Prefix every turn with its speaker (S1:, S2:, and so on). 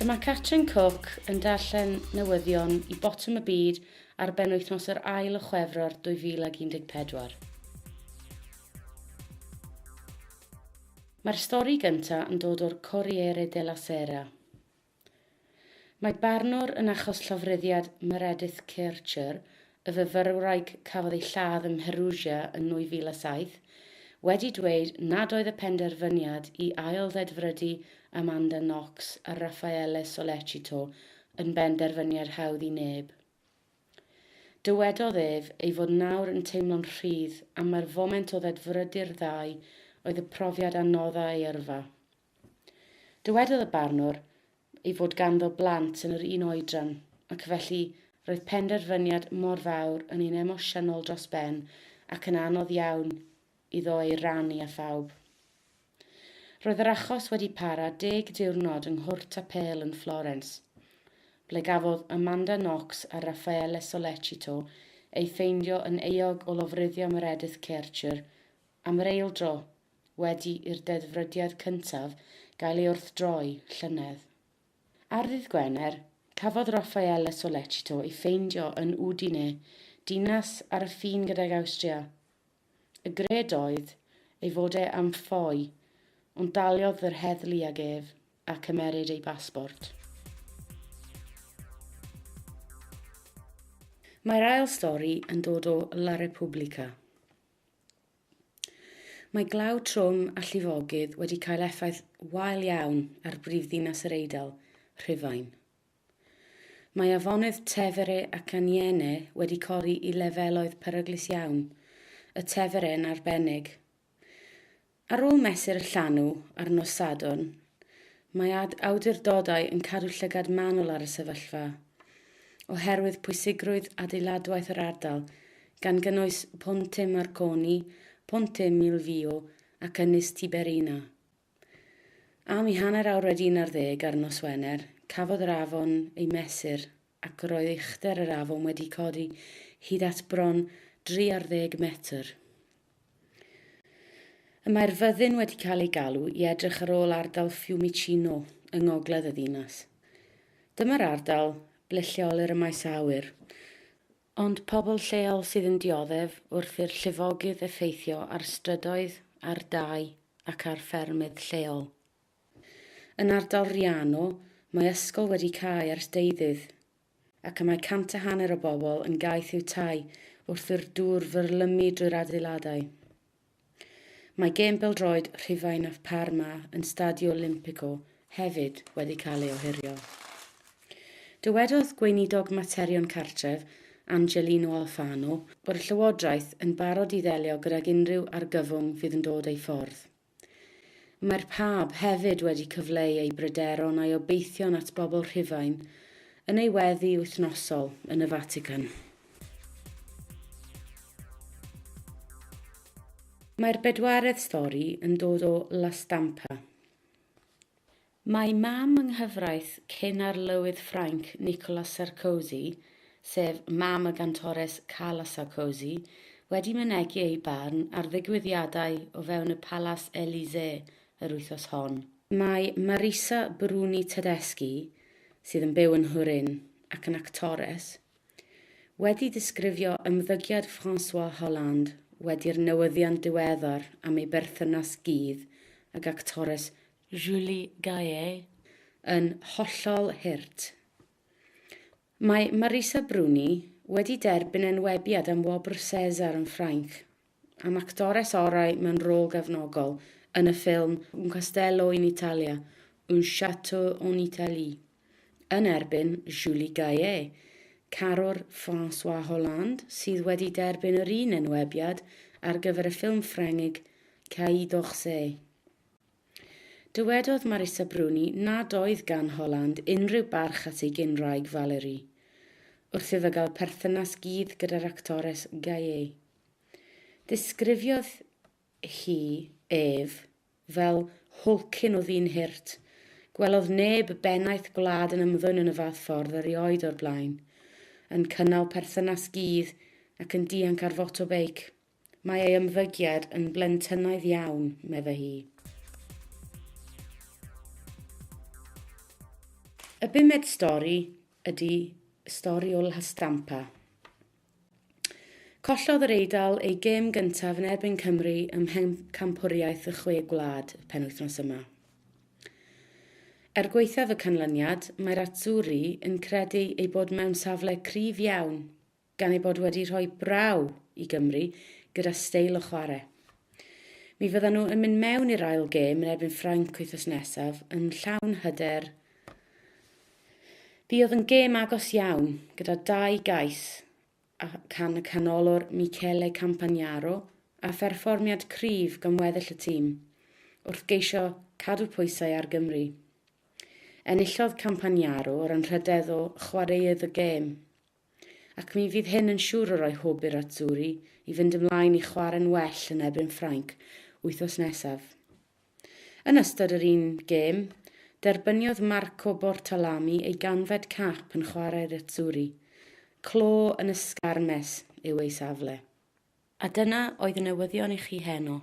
S1: Mae Catrin Cook yn darllen newyddion i Botwm y Byd ar benwythnos yr ail o Chwefror 2014. Mae'r stori gyntaf yn dod o'r Corriere della Sera. Mae barnwr yn achos llofruddiad Meredith Kercher, y fyfyrwraig cafodd ei lladd ym Mherugia yn 2007, wedi dweud nad oedd y penderfyniad i ail-ddedfrydu Amanda Knox a Raffaele Sollecito yn benderfyniad hawdd i neb. Dywedodd ef ei fod nawr yn teimlo'n rhydd am mai'r foment o ddedfrydu'r ddau oedd y profiad a nodda ei yrfa. Dywedodd y barnwr ei fod ganddo blant yn yr un oedran ac felly roedd penderfyniad mor fawr yn un emosiynol dros ben ac yn anodd iawn iddo ei rannu â phawb. Roedd yr achos wedi para deg diwrnod yng Nghwrt Apêl yn Florens, ble gafodd Amanda Knox a Raffaele Sollecito eu ffeindio yn euog o lofruddio Meredith Kercher am yr eil dro wedi i'r deddfrydiad cyntaf gael ei wrthdroi llynedd. Ar ddydd Gwener, cafodd Raffaele Sollecito ei ffeindio yn Udine, dinas ar y ffin gydag Awstria, Y gred oedd ei fod e am ffoi, ond daliodd yr heddlu ag ef a cymeryd ei basbort. Mae'r ail stori yn dod o La Repubblica. Mae glaw trwm a llifogydd wedi cael effaith wael iawn ar brifddinas yr Eidal, Rhufain. Mae afonydd Tevere ac Aniene wedi codi i lefeloedd peryglus iawn, y Tevere yn arbennig. Ar ôl mesur y llanw ar nos Sadwrn, mae awdurdodau yn cadw llygad manwl ar y sefyllfa, oherwydd pwysigrwydd adeiladwaith yr ardal, gan gynnwys Ponte Marconi, Ponte Milvio ac Ynys Tiberina. Am i hanner awr wedi un ar ddeg ar nos Wener, cafodd yr afon ei mesur ac roedd uchder yr afon wedi codi hyd at bron dri ar ddeg metr. Y mae'r fyddin wedi cael ei galw i edrych ar ôl ardal Fiumicino yng ngogledd y ddinas. Dyma'r ardal ble lleolir y maes awyr. Ond pobl lleol sydd yn dioddef wrth i'r llifogydd effeithio ar strydoedd, ar dai ac ar ffermydd lleol. Yn ardal Riano, mae ysgol wedi cau ers deuddydd, ac y mae cant a hanner o bobl yn gaeth i'w tai wrth i'r dŵr fyrlymu drwy'r adeiladau. Mae gêm bêl-droed Rhufain a Parma yn Stadio Olimpico hefyd wedi cael ei ohirio. Dywedodd Gweinidog Materion Cartref, Angelino Alfano, bod y Llywodraeth yn barod i ddelio gydag unrhyw argyfwng fydd yn dod ei ffordd. Mae'r Pab hefyd wedi cyfleu ei bryderon a'i obeithion at bobl Rhufain yn ei weddi wythnosol yn y Fatican. Mae'r bedwaredd stori yn dod o La Stampa. Mae mam yng nghyfraith cyn arlywydd Ffrainc Nicolas Sarkozy, sef mam y gantores Carla Sarkozy, wedi mynegi ei barn ar ddigwyddiadau o fewn y Palas Elysee yr wythnos hon. Mae Marisa Bruni Tedeschi, sydd yn byw yn Nhwrin ac yn actores, Wedi disgrifio ymddygiad François Hollande wedi'r newyddion diweddar am ei berthynas gudd ag actores Julie Gaillet yn hollol hurt, mae Marisa Bruni wedi derbyn enwebiad am wobr César yn Ffrainc am actores orau mewn rôl gefnogol yn y ffilm Un Castello in Italia, Un Château en Italie, yn erbyn Julie Gaillet, carwr François Hollande sydd wedi derbyn yr un enwebiad ar gyfer y ffilm Ffrengig Quai d'Orsay. Dywedodd Marisa Bruni nad oedd gan Hollande unrhyw barch at ei gyn-wraig Valérie, wrth iddo gael perthynas gudd gyda'r actores Gaillet. Disgrifiodd hi ef fel hulkin o ddyn hurt. Gwelodd neb y bennaeth gwlad yn ymddwyn yn y fath ffordd erioed o'r blaen. Yn cynnal perthynas gudd ac yn dianc ar foto beic. Mae ei ymddygiad yn blentynnaidd iawn, medde hi. Y bumed stori ydi stori o Lhastampa. Collodd yr Eidal eu gêm gyntaf yn erbyn Cymru ym Mhencampwriaeth y Chwe Gwlad y penwythnos yma. Er gwaethaf y canlyniad, mae'r Azzurri yn credu eu bod mewn safle cryf iawn, gan eu bod wedi rhoi braw i Gymru gyda steil o chwarae. Mi fyddan nhw yn mynd mewn i'r ail gêm yn erbyn Ffrainc wythnos nesaf yn llawn hyder Fi oedd yn gêm agos iawn, gyda dau gais a can y canolwr Michele Campagnaro a pherfformiad cryf gan weddill y tîm, wrth geisio cadw pwysau ar Gymru. Enillodd Campagnaro o'r anrhydedd o chwaraeodd y gêm. ac mi fydd hyn yn siŵr o roi hwb i'r Azzurri i fynd ymlaen i chwarae'n well yn erbyn Ffrainc wythnos nesaf. Yn ystod yr un gêm, derbyniodd Marco Bortalami ei ganfed cap yn chwarae'r Azzurri, clo yn ysgarmes yw ei safle. A dyna oedd y newyddion i chi heno.